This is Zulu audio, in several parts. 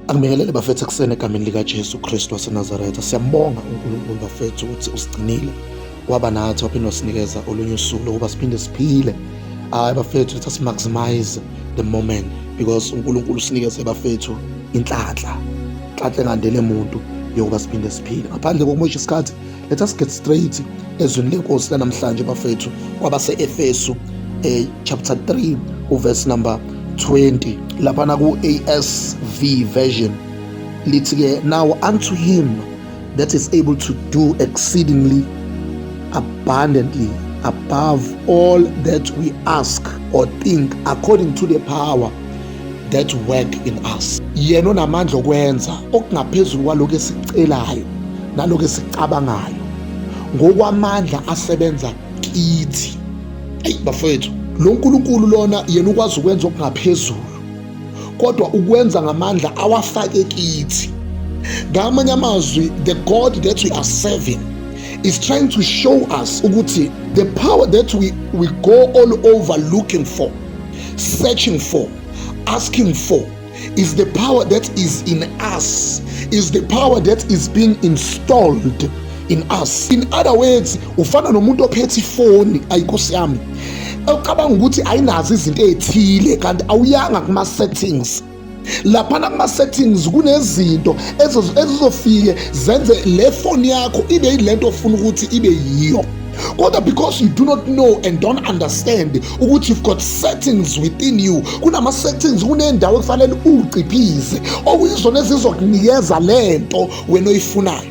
Angibingelele bafethu ekuseni egameni likaJesu Kristu waseNazaretha. Siyambonga uNkulunkulu bafethu ukuthi usigcinile waba nathi waphinde wasinikeza olunye usuku lokuba siphinde siphile. Hayi bafethu let us maximize the moment because uNkulunkulu usinikeze bafethu inhlanhla. Inhlanhla engandele muntu yokuba siphinde siphile. Ngaphandle kokumosha isikhathi Let us get straight ezwini lenkosi lanamhlanje bafethu kwabaseEfesu eh, chapter 3 uverse number 20 lapha na ku ASV version lithi ke now unto him that is able to do exceedingly abundantly above all that we ask or think according to the power that work in us yena onamandla okwenza okungaphezulu kwalokho esicelayo nalokho esicabangayo ngokwamandla asebenza kithi eyi bafowethu lo nkulunkulu lona yena ukwazi ukwenza okungaphezulu kodwa ukwenza ngamandla awafake kithi ngamanye amazwi the god that we are serving is trying to show us ukuthi the power that we, we go all over looking for searching for asking for is the power that is in us is the power that is being installed in us in other words ufana nomuntu ophethe ifoni ayikosi yami ocabanga ukuthi ayinazo izinto ezithile kanti awuyanga kuma settings laphana kuma-settings kunezinto ezizofike zenze le foni yakho ibe yilento ofuna ukuthi ibe yiyo kodwa because you do not know and don't understand ukuthi you've got settings within you kunama-settings kunendawo ekufanele uwuciphize okuyizona ezizokunikeza le nto wena oyifunayo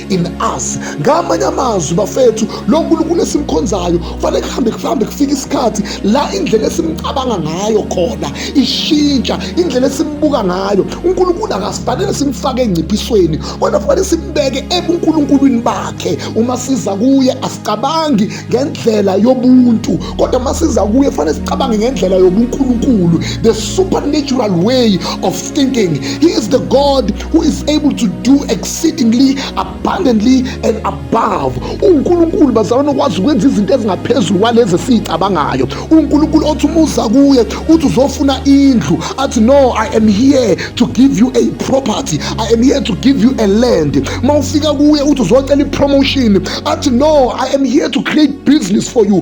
in us ngamanye amazwi bafethu lo nkulunkulu esimkhonzayo kufanele kuhambe kuhambe kufike isikhathi la indlela esimcabanga ngayo khona ishintsha indlela esimbuka ngayo unkulunkulu akasifanele simfake engciphisweni kodwa kufanele simbeke ebunkulunkulwini bakhe uma siza kuye asicabangi ngendlela yobuntu kodwa uma siza kuye kufanele sicabange ngendlela yobunkulunkulu the supernatural way of thinking he is the god who is able to do exceedingly abundantly and above unkulunkulu bazalwane okwazi ukwenza izinto ezingaphezulu kwalezi esiyicabangayo unkulunkulu othi uma uza kuye uthi uzofuna indlu athi no i am here to give you a property i am here to give you a land ma ufika kuye uthi uzocela ipromotion athi no i am here to create business for you